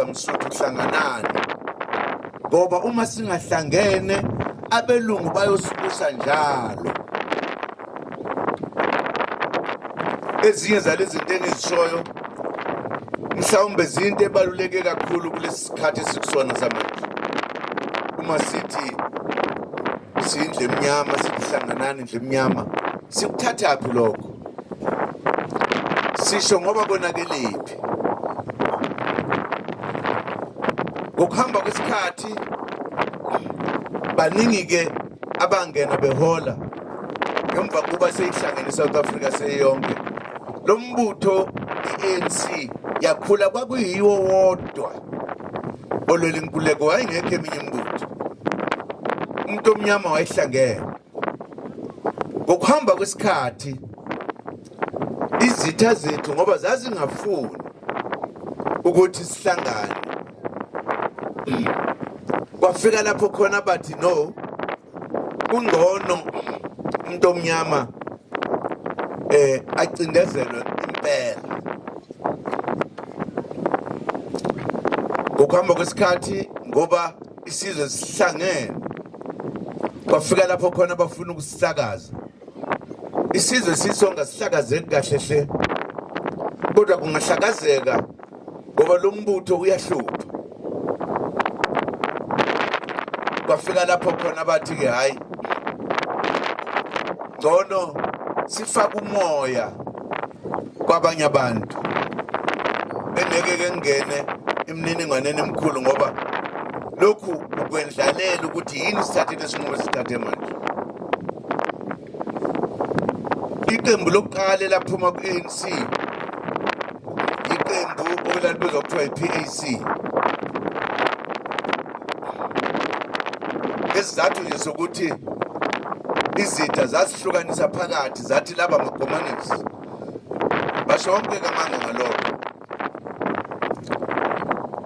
msuthu hlanganani ngoba uma singahlangene abelungu bayosibusa njalo ezinye zalezi zinto engizishoyo mhlawumbe zinto ebaluleke kakhulu kulesi sikhathi esikusona samanje uma sithi siyindle emnyama sikuhlanganani indle emnyama sikuthathaphi lokho sisho ngoba konakelephi ngokuhamba kwesikhathi baningi-ke abangena behola ngemva kuba seyihlangene i-south africa seyonke lo mbutho i-anc yakhula kwakuyiwo wodwa olwela inkuleko wayengekho eminye imbutho umuntu omnyama wayehlangene ngokuhamba kwesikhathi izitha zethu ngoba zazingafuni ukuthi sihlangane kwafika lapho khona bathi no kungcono umuntu omnyama eh acindezelwe impela ngokuhamba kwesikhathi ngoba isizwe sihlangene kwafika lapho khona bafuna ukusisakaza isizwe sisonga sihlakazeki kahle hle kodwa kungahlakazeka ngoba lo mbutho uyahlupha kwafika lapho khona bathi-ke hhayi ngcono sifake umoya kwabanye abantu bengeke ke ngene imininingwaneni emikhulu ngoba lokhu ukwendlalela ukuthi yini sithathe lesinqumo sithathe manje iqembu lokuqala elaphuma ku-anc iqembu okulalibuza kuthiwa yi-pac ngesizathu nje sokuthi izitha zasihlukanisa phakathi zathi laba makomanisi basho wonke kamanga ngalokho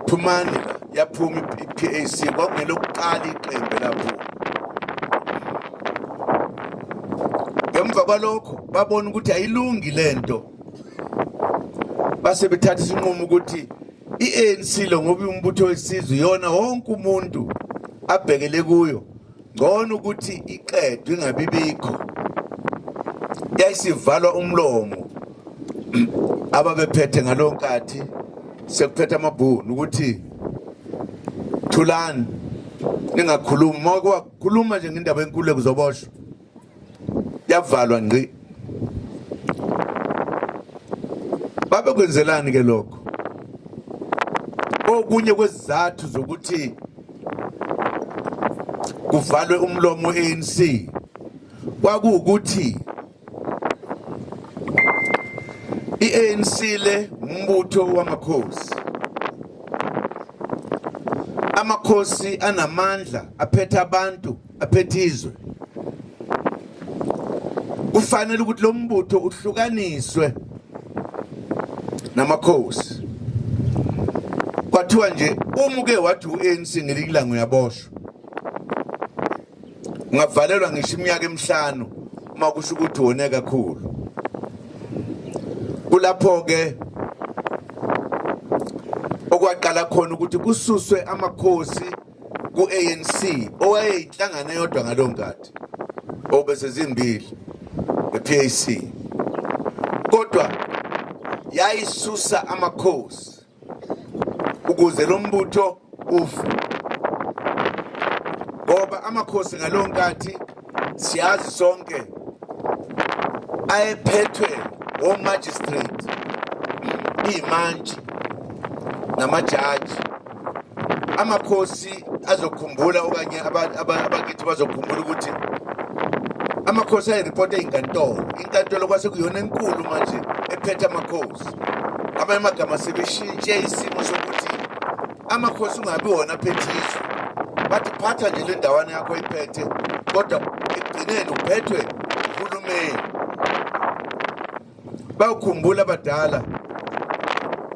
phumani la yaphuma i-pac kwakungelokuqala iqembe lapho ngemva kwalokho babona ukuthi ayilungi le nto base bethatha isinqumo ukuthi i-anc lo ngoba iwumbutho wesizwe yona wonke umuntu abhekele kuyo ngcono ukuthi iqedwe ingabi bikho yayisivalwa umlomo ababephethe ngalowo nkathi sekuphethe amabhunu ukuthi thulani ningakhulumi uma kwakhuluma nje ngendaba enkulu kuzoboshwa yavalwa ngqi babekwenzelani ke lokho okunye kwezizathu zokuthi kuvalwe umlomo ANC kwakuwukuthi iANC le umbutho wamakhosi amakhosi anamandla aphethe abantu aphethe izwe kufanele ukuthi lo mbutho uhlukaniswe namakhosi kwathiwa nje uma uke wathi u-anc ngelikilanga uyaboshwa ungavalelwa ngisho iminyaka emihlanu uma kusho ukuthi wone kakhulu kulapho-ke okwaqala khona ukuthi kususwe amakhosi ku-anc owayeyinhlangano eyodwa ngaleyo nkathi obese zimbili nge-pac kodwa yayisusa amakhosi ukuze lo mbutho ufe ngoba amakhosi ngaleyo nkathi siyazi sonke ayephethwe womagistrate iyimantshi namajaji amakhosi azokhumbula okanye abakithi bazokhumbula ukuthi amakhosi ayiripota inkantolo inkantolo kwase kuyona enkulu manje ephethe amakhosi abanye amagama sebeshintshe isimo sokuthi amakhosi ungabi wona aphethe izwe bathi phatha nje le ndawana yakho iphethe kodwa ekugcineni uphethwe uhulumeni bawukhumbula abadala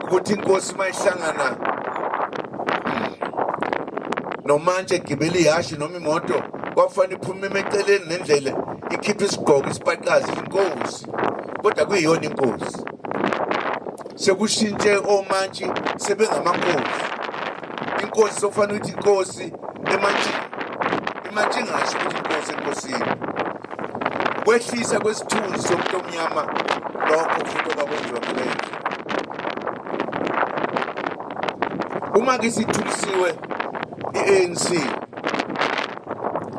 ukuthi inkosi uma ihlangana nomantshi egibela ihhashi noma imoto kwakufanele iphume emeceleni nendlela ikhiphe isigqoko isibaqazi inkosi kodwa kuyiyona inkosi sekushintshe omantshi sebengamankosi inkosi sokufanele ukuthi inkosi emantshini imantshi ingasho ukuthi inkosi enkosini kwehlisa kwesithunzi somuntu omnyama lokho futhi okwakwenziwa kuleyo uma ke sithulisiwe i-anc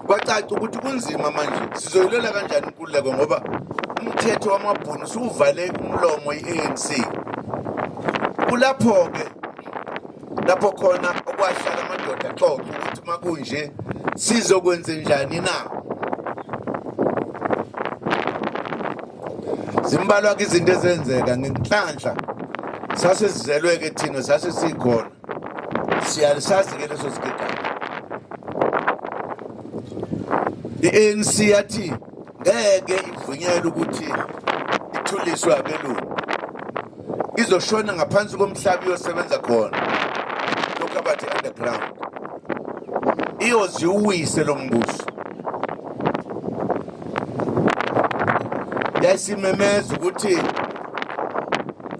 kwacaca ukuthi kunzima manje sizoyilela kanjani ngenkululeko ngoba umthetho wamabhunu usuwuvale umlomo i-anc kulapho-ke lapho khona okwahlala amadoda xoxa ukuthi uma kunje sizokwenze njani na zimbalwa-ke izinto ezenzeka ngenhlanhla sase sizelwe-ke thina sase sikhona siyalisazi ke leso sigigaba i-ANC yathi ngeke ivunyelwe ukuthi ithuliswe abelungu izoshona ngaphansi komhlaba iyosebenza khona lokhu abathi underground iyoziwise lo mbuso yayisimemeza ukuthi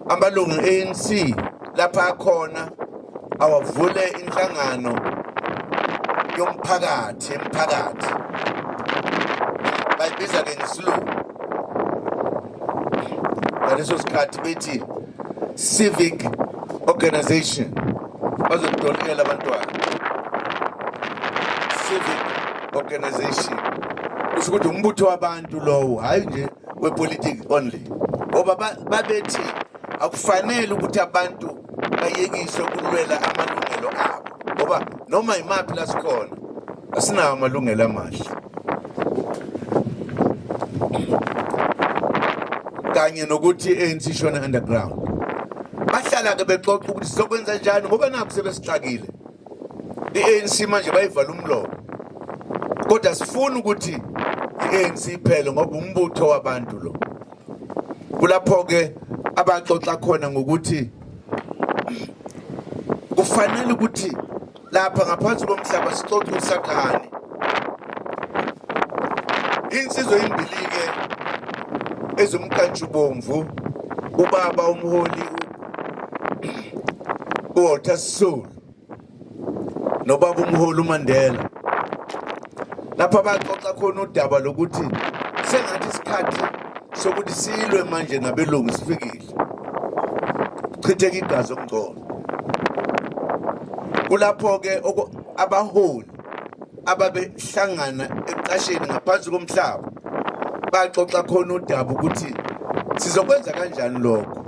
amalungu e-ANC lapha akhona awavule inhlangano yomphakathi emphakathi bayibiza ke ngesilungu ngaleso sikhathi bethi civic organization bazokutolikela abantwana civic organization kusho ukuthi umbutho wabantu lowo hhayi nje wepolitiki only ngoba babethi akufanele ukuthi abantu bayekiswe ukulwela amalungelo abo ngoba noma yimaphi la sikhona asinawo amalungelo amahle kanye nokuthi ANC shona underground bahlala ke bexoxa ukuthi sizokwenza njani ngoba nakho sebesixakile i-ANC manje bayivala umlomo kodwa sifuna ukuthi i-ANC iphele ngoba umbutho wabantu lo kulapho ke abaxoxa khona ngokuthi kufanele ukuthi lapha ngaphansi komhlaba sixoxe usathane insizwa imbilike ezomkantshubomvu ubaba umholi uWalter Sisulu nobaba umholi uMandela lapha baxoxa khona udaba lokuthi sengathi isikhathi sokuthi silwe manje nabelungu sifikile kuchitheka igazi okungcono kulapho-ke abaholi ababehlangana eqasheni ngaphansi komhlaba baxoxa khona udaba ukuthi sizokwenza kanjani lokho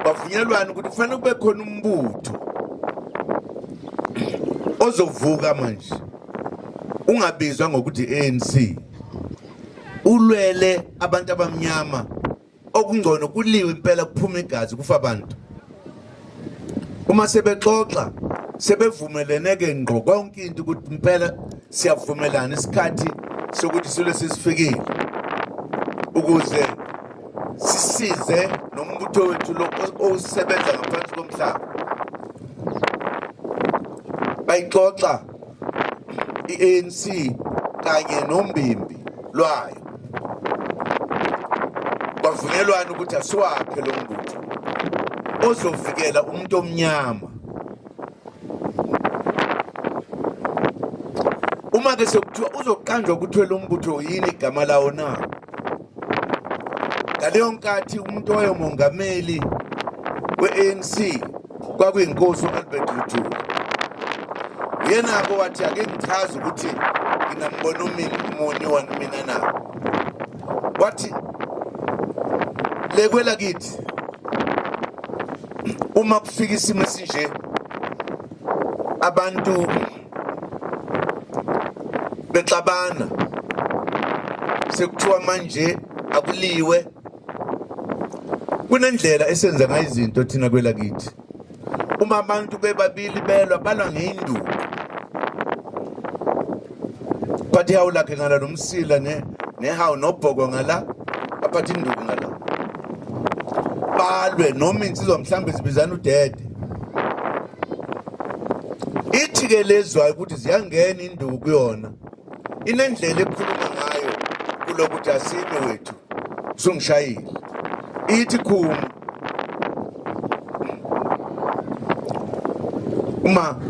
bavunyelwana ukuthi kufanele kube khona umbutho ozovuka manje ungabizwa ngokuthi ANC ulwele abantu abamnyama okungcono kuliwe impela kuphuma igazi kufa abantu uma sebexoxa sebevumelene ke ngqo konke into ukuthi impela siyavumelana isikhathi sokuthi silo sisifikile ukuze sisize nombutho wethu lo osebenza ngaphansi komhlaba bayixoxa i-ANC kanye nombimbi lwayo kwavunyelwana ukuthi asiwakhe lo mbutho ozovikela umuntu omnyama uma ke sekuthiwa uzoqanjwa kuthiwe lo mbutho yini igama lawo na ngaleyo nkathi umuntu owayomongameli we-anc kwakuyinkosi u-albert luthuli yena-ke wathi ake ngichaze ukuthi nginambona umuni wani mina na wathi lekwela kithi uma kufika isimo esinje abantu bexabana sekuthiwa manje akuliwe kunendlela esenza ngayo izinto thina kwelakithi uma abantu bebabili belwa balwa ngeyinduku but ihawu lakhe ngala nomsila ne nehawu nobhoko ngala aphatha induku ngala balwe noma insizwa mhlawumbe zibizana udede ithi ke lezwayo ukuthi ziyangena induku kuyona inendlela ekhuluma ngayo kulokuthi asime wethu sungishayile ithi khuma uma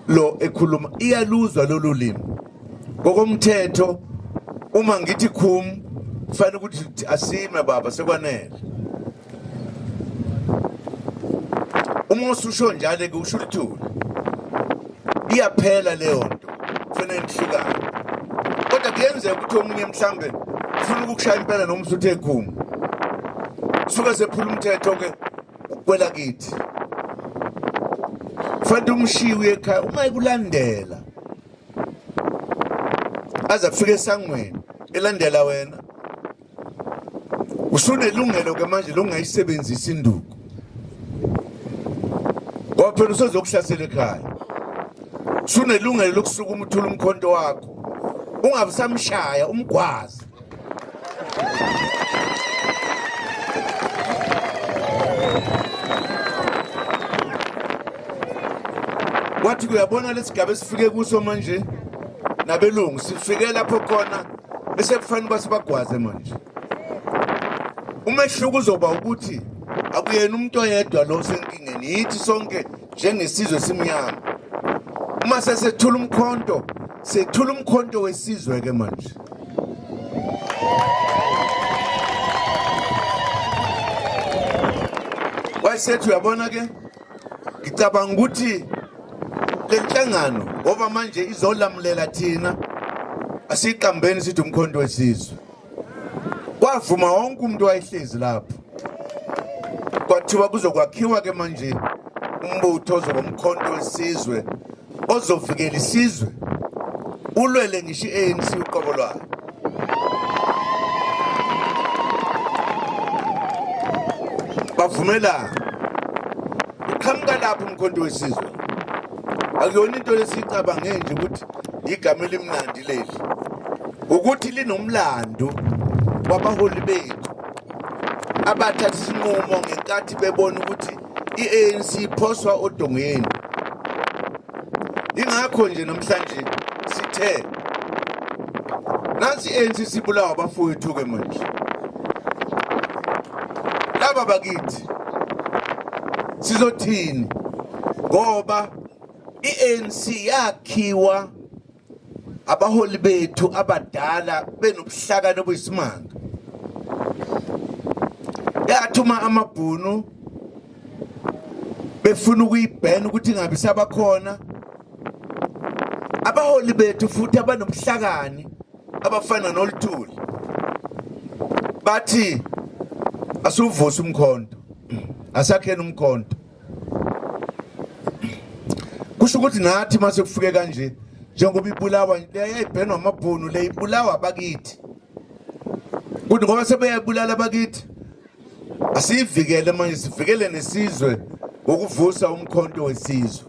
lo ekhuluma iyaluzwa lolu limi ngokomthetho uma ngithi khum kufanele ukuthi asime baba sekwanele uma ususho njalo ke usho ukuthula iyaphela leyo nto kufanele nihlukane kodwa kuyenzeka ukuthi omunye mhlambe ufuna ukukushaya impela noma usuthe ekhuma suke sephula umthetho ke ukwela kithi fanele umshiye uye ekhaya uma ekulandela aze afike esangweni elandela wena usunelungelo ke manje lokungayisebenzisa induku ngoba phela usezokuhlasela ekhaya sunelungelo lokusuka umuthula umkhonto wakho ungabe samshaya umgwazi wathi kuyabona lesigaba esifike kuso manje nabelungu sifike lapho khona bese kufanele uba sibagwaze manje umehluko uzoba ukuthi akuyena umuntu oyedwa lo senkingeni yithi sonke njengesizwe simnyama uma sesethula umkhonto sethula umkhonto wesizwe ke manje wayesethi uyabona ke ngicabanga ukuthi le nhlangano ngoba manje izolamulela thina asiqambeni sithi umkhonto wesizwe kwavuma wonke umuntu wayehlezi lapho kwathiwa kuzokwakhiwa ke manje umbutho ozoba umkhonto wesizwe ozovikela isizwe ulwele ngisho i-anc uqobo lwayo bavumelana uqhamuka lapho umkhonto wesizwe akuyona into lesiyicabange nje ukuthi igama elimnandi leli ukuthi linomlando wabaholi bethu abathatha isinqumo ngenkathi bebona ukuthi i-anc iphoswa odongeni ingakho nje namhlanje sithe nansi i-anc sibulawa abafowethu-ke manje laba bakithi sizothini ngoba i-anc yakhiwa abaholi bethu abadala benobuhlakani obuyisimanga yathuma amabhunu befuna ukuyibhena ukuthi ingabe sabakhona abaholi bethu futhi abanobuhlakani abafana noluthuli bathi asuvuse umkhonto asakhena umkhonto kusho ukuthi nathi mase kufike kanje njengoba ibulawa yayibhenwa amabhunu le ibulawa abakithi kuthi ngoba sebeyabulala abakithi asiyivikele manje sivikele nesizwe ngokuvusa umkhonto wesizwe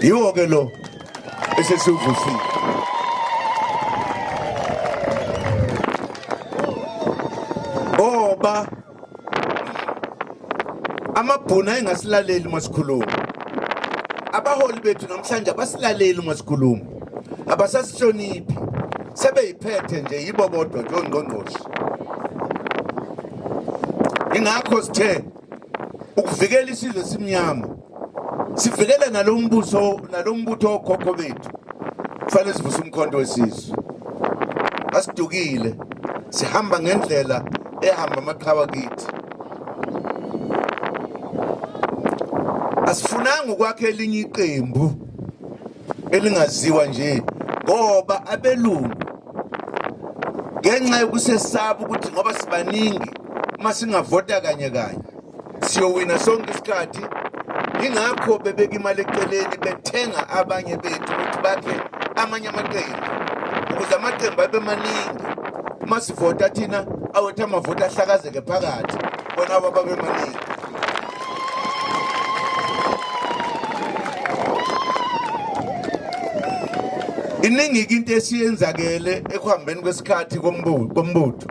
yiwo ke lo esesiwuvusile ngoba amabhunu ayengasilaleli uma sikhuluma abaholi bethu namhlanje abasilaleli uma sikhuluma abasasihloniphi sebeyiphethe nje yibo bodwa njengongqongqoshe ingakho sithe ukuvikela isizwe simnyama sivikele nalombuso nalombutho okhokho bethu kufanele sivuse umkhonto wesizwe asidukile sihamba ngendlela ehamba amaqhawa kithi asifunanga ukwakhe elinye iqembu elingaziwa nje ngoba abelungu ngenxa yokusesaba ukuthi ngoba sibaningi uma singavota kanye kanye siyowina sonke isikhathi ingakho bebeka imali eceleni bethenga abanye bethu ukuthi bakhe amanye amaqembu ukuze amaqembu abe maningi uma sivota thina awethu amavoti ahlakazeke phakathi bona abo babe maningi iningi-ke into esiyenzakele ekuhambeni kwesikhathi kombutho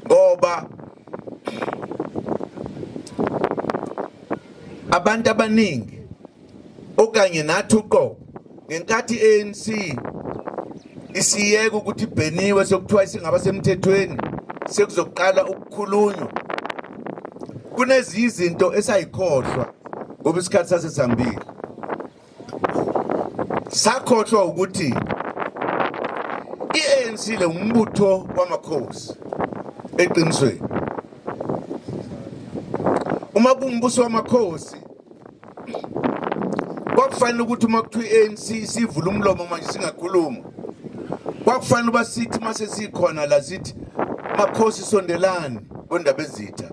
ngoba abantu abaningi okanye nathi uqobo ngenkathi ANC isiyeke ukuthi ibheniwe sokuthiwa isingaba semthethweni sekuzoqala ukukhulunywa kunezinye izinto esayikhohlwa ngoba isikhathi sasesihambile sakhohlwa ukuthi i-ANC le umbutho wamakhosi eqinisweni uma kumbuso wamakhosi kwakufanele ukuthi uma kuthiwa i-ANC sivula umlomo manje singakhuluma kwakufanele uba sithi uma sesikhona la sithi makhosi sondelani kondaba ezitha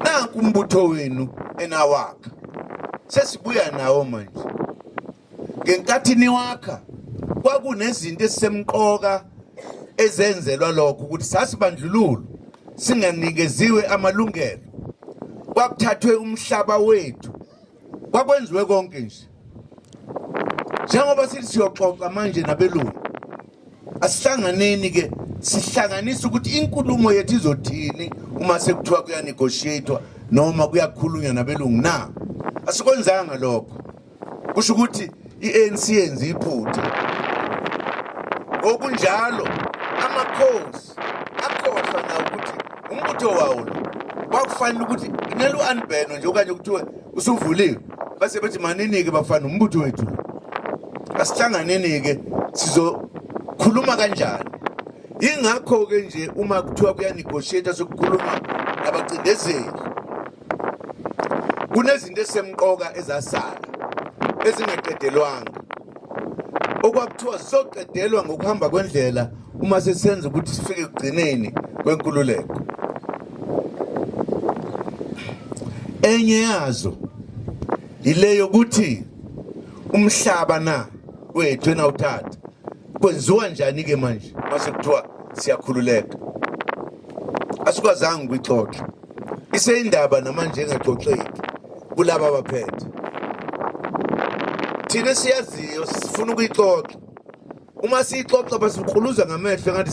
nanku umbutho wenu enawakha sesibuya nawo manje ngenkathi niwakha kwakunezinto ezisemqoka ezenzelwa lokho ukuthi sasibandlululo singanikeziwe amalungelo kwakuthathwe umhlaba wethu kwakwenziwe konke nje njengoba sithi siyoxoxa manje nabelungu asihlanganeni ke sihlanganise ukuthi inkulumo yethu izothini uma sekuthiwa kuyanegotiatwa noma kuyakhulunywa nabelungu na asikwenzanga lokho kusho ukuthi i-anc yenza iphutha ngokunjalo amakhosi akhohlwa nawo ukuthi umbutho wawo lo kwakufanele ukuthi kumele u-anibheno nje okanye kuthiwe usuvuliwe base bethi manini-ke bafana umbutho wethu asihlanganeni-ke sizokhuluma kanjani yingakho-ke nje uma kuthiwa kuyanegotiate sokukhuluma nabacindezeli kunezinto esemqoka ezasala ezingaqedelwanga okwakuthiwa sizoqedelwa ngokuhamba kwendlela uma sesenza ukuthi sifike ekugcineni kwenkululeko enye yazo yileyo ukuthi umhlaba na wethu enawuthatha kwenziwa njani ke manje mase kuthiwa siyakhululeka asikwazanga ukuyixoxa Iseyindaba namanje engaxoxeki kulaba baphethe. Thina siyaziyo sifuna ukuyixoxa. Uma siyixoxa basikhuluza ngamehlo ngathi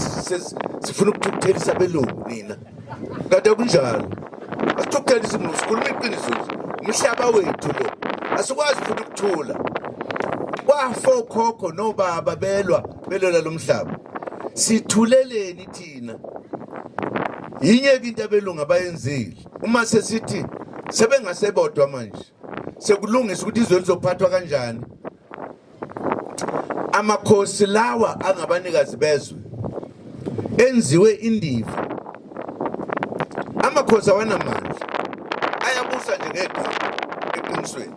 sifuna ukuthukuthela abelungu nina. Kade kunjalo. Asithukuthela isimulu sikhuluma iqiniso nje. Umhlaba wethu lo. Asikwazi futhi ukuthula. Kwafo khokho nobaba belwa belwela lomhlaba. Sithuleleni thina yinye ke into abelungu abayenzile uma sesithi sebengasebodwa manje sekulungisa ukuthi izwe lizophathwa kanjani amakhosi lawa angabanikazi bezwe enziwe indiva amakhosi awanamandla ayabusa nje ngegama eqinisweni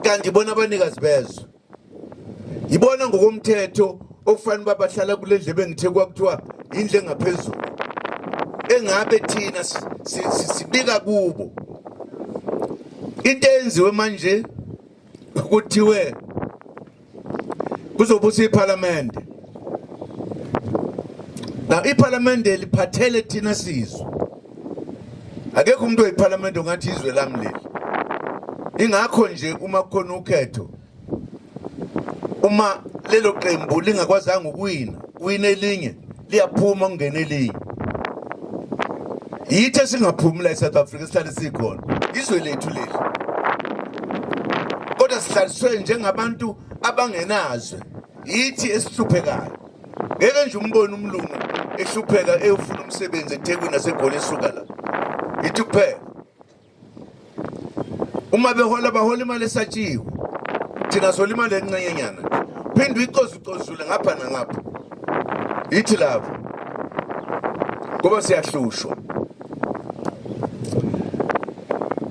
kanti bona abanikazi bezwe yibona ngokomthetho okufanele uba bahlala kule ndlebe ngithe kwakuthiwa indlu engaphezulu engabe thina sibika kubo into eyenziwe manje kuthiwe kuzobusa iphalamende na iphalamende liphathele thina sizwe akekho umuntu wephalamende ongathi izwe lami leli ingakho nje uma kukhona ukhetho uma lelo qembu lingakwazanga ukuwina kuwina elinye liyaphuma kungena elinye yithi esingaphumi la e-south africa sihlale sikhona izwe lethu leli kodwa sihlaliswe njengabantu abangenazwe yithi esihluphekayo ngeke nje umbone umlungu ehlupheka eyofuna umsebenzi eThekwini nasegoli esuka la yithi kuphela uma behola bahola imali esatshiwe thina sola imali encenyenyana phinde uyicozucozule ngapha nangapha yithi lapho ngoba siyahlushwa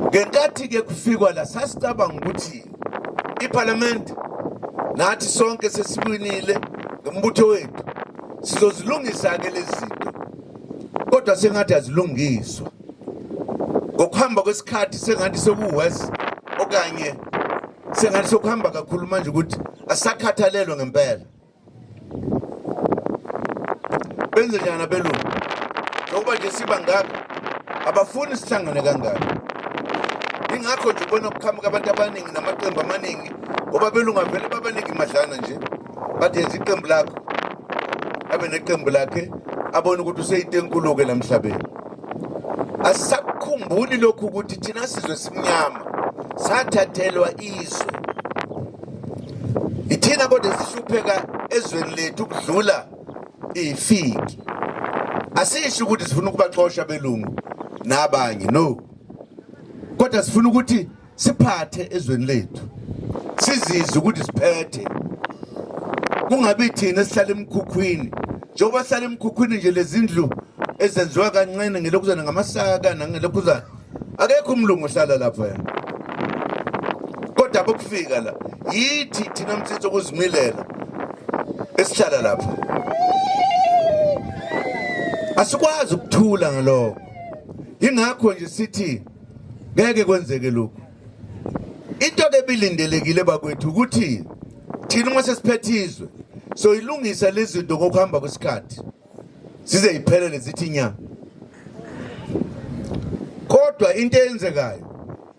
ngenkathi-ke kufikwa la sasicabanga ukuthi iphalamende nathi sonke sesiwinile ngombutho wethu sizozilungisa-ke lezi zinto kodwa sengathi azilungiswa ngokuhamba kwesikhathi sengathi sekuwesi okanye sengathi sokuhamba kakhulu manje ukuthi asakhathalelwe ngempela benze njani abelungu nokuba nje siba ngaka abafuni sihlangane kangaka ingakho nje ubona kuqhamuka abantu abaningi namaqembu amaningi ngoba belungu avele babaningi madlana nje bathi yenza iqembu lakho abe neqembu lakhe abone ukuthi useyinto enkulu-ke la mhlabeni asisakukhumbuli lokhu ukuthi thina sizwe simnyama sathathelwa izwe ithina kodwa esihlupheka ezweni lethu ukudlula ifiki asisho ukuthi sifuna ukubaxosha belungu nabanye no kodwa sifuna ukuthi siphathe ezweni lethu sizizwe ukuthi siphethe kungabi thina esihlala emkhukhwini njengoba sihlala emkhukhwini nje lezindlu ezenziwa kancane ngelokhuzana ngamasaka nangelokhuzana akekho umlungu ohlala lapha yena kodwa bokufika la yithi thina mthetho ukuzimilela esihlala lapha asikwazi ukuthula ngalokho yingakho nje sithi ngeke kwenzeke lokhu into ke bilindelekile bakwethu ukuthi thina uma sesiphethe izwe soyilungisa lezinto ngokuhamba kwesikhathi zize iphelele zithi nya kodwa into eyenzekayo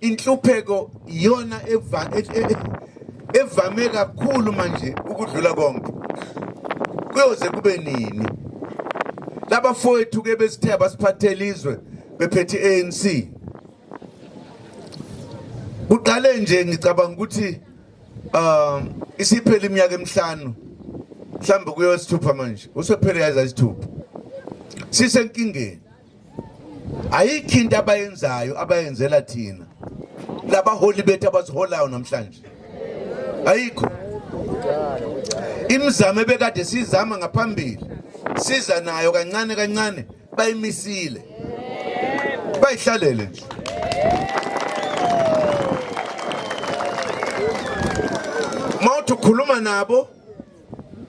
inhlupheko iyona e, e, evame kakhulu manje ukudlula konke kuyoze kube nini laba fowethu ke besithe abasiphathele izwe bephethe ANC kuqale nje ngicabanga ukuthi um isiphele iminyaka emihlanu mhlawumbe kuyowesithupha manje usephele yaza isithupha sisenkingeni ayikho into abayenzayo abayenzela thina labaholi bethu abasiholayo namhlanje ayikho imizamo ebekade sizama ngaphambili siza nayo kancane kancane bayimisile bayihlalele nje mawuthi ukhuluma nabo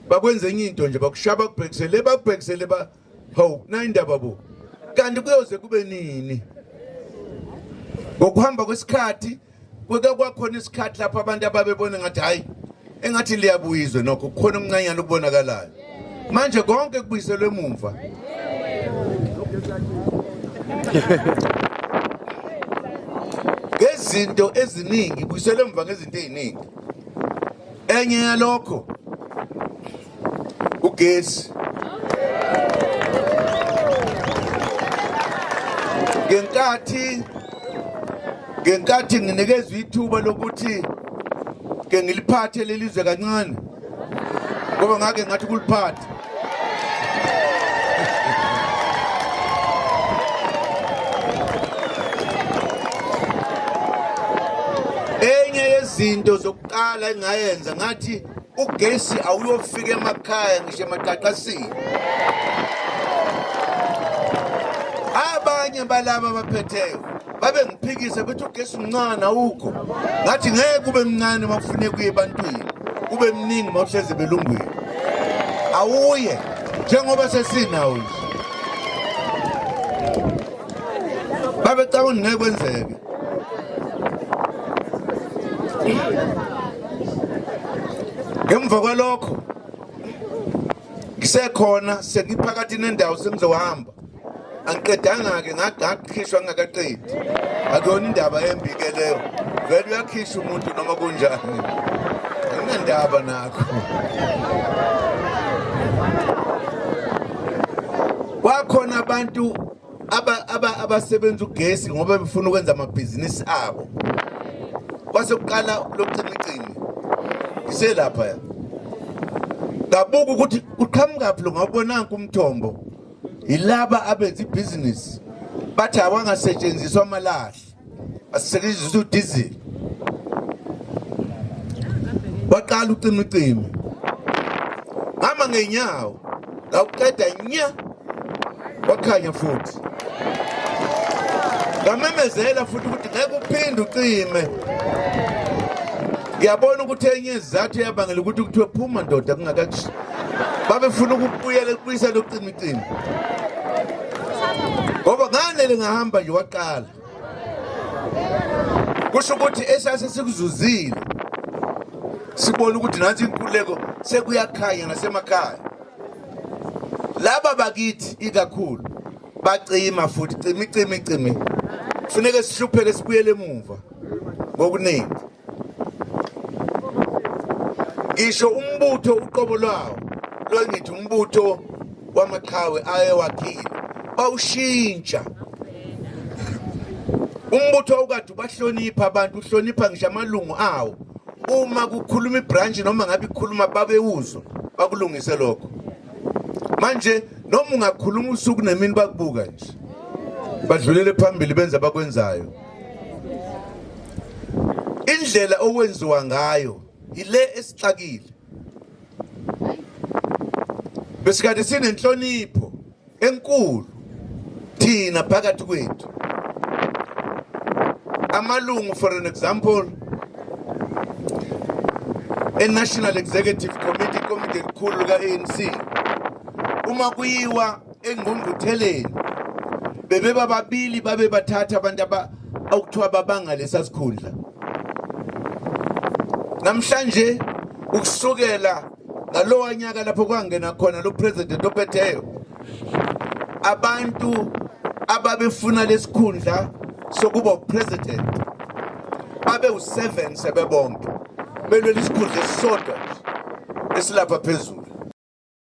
bakwenza enye into nje bakushaya bakubhekisele bakubhekisele ba hawu nayindaba bo kanti kuyoze kube nini ngokuhamba kwesikhathi kuke kwakhona isikhathi lapho abantu ababebona ngathi hayi engathi liyabuyizwe nokho kukhona umncanyana okubonakalayo manje konke kubuyiselwe emumva ngezinto eziningi buyiselwe emva ngezinto eziningi enye yalokho ugesi ngenkathi ngenkathi nginikezwa ithuba lokuthi ke ngiliphathe leli zwe kancane ngoba ngake ngathi kuliphatha enye yezinto zokuqala engayenza ngathi ugesi awuyofika emakhaya ngisho emaqaqasini abanye balaba abaphetheyo babe ngiphikise bethi ugesi mncane awukho ngathi ngeke ube mncane uma kufuneka uye ebantwini ube mningi uma uhlezi belungwini awuye njengoba sesinawo nje babecabanga ngeke kwenzeke ngemva kwalokho ngisekhona sengiphakathi nendawo sengizohamba angiqedanga-ke ngagakhishwa ngingakaqedi akuyona indaba embike leyo vele uyakhishwa umuntu noma kunjani anginandaba nakho Kwakhona abantu abasebenza ugesi ngoba befuna ukwenza amabhizinisi abo kwase kuqala lokucimicimi iselapha ngabuka ukuthi uqhamukaphi lo ngawubonanga umthombo yilaba abenza ibhizinisi bathi awangasetshenziswa amalahle asisetshenziswa udizili waqala ucima ucima hamba ngeenyawo ngawuqeda nya wakhanya futhi ngamemezela futhi ukuthi ngeke uphinde ucime ngiyabona ukuthi enye izizathu eyabangela ukuthi kuthiwe phuma ndoda kungakathi babefuna ukubuyela kubuyisela ucima Cingo. Ngoba ngane lingahamba nje waqala. Kusho ukuthi esase sikuzuzile. Sibona ukuthi nathi inkuleko sekuyakhanya nasemakhaya. Laba bakithi ikakhulu bacima futhi cimi cimi cimi. Funeke sihlupheke sibuyele emuva ngokuningi. ngisho umbutho uqobo lwawo lwangithi umbutho wamaqhawe ayewakhile bawushintsha umbutho awukade ubahlonipha abantu uhlonipha ngisho amalungu awo uma kukhuluma ibranch noma ngabe ikhuluma babewuzwa bakulungise lokho manje noma ungakhuluma usuku nemini bakubuka nje badlulele phambili benza bakwenzayo indlela owenziwa ngayo yile esixakile besikade sinenhlonipho enkulu thina phakathi kwethu amalungu for an example e-national executive committee ikomidi elikhulu lika-anc uma kuyiwa engqungqutheleni bebeba babili babe bathatha abantu okuthiwa babanga lesa sikhundla namhlanje ukusukela ngalowa nyaka lapho kwangena khona lo president ophetheyo abantu ababefuna lesikhundla sokuba upresident babe u7 sebebonke belwela isikhundla esisodwa esilapha phezulu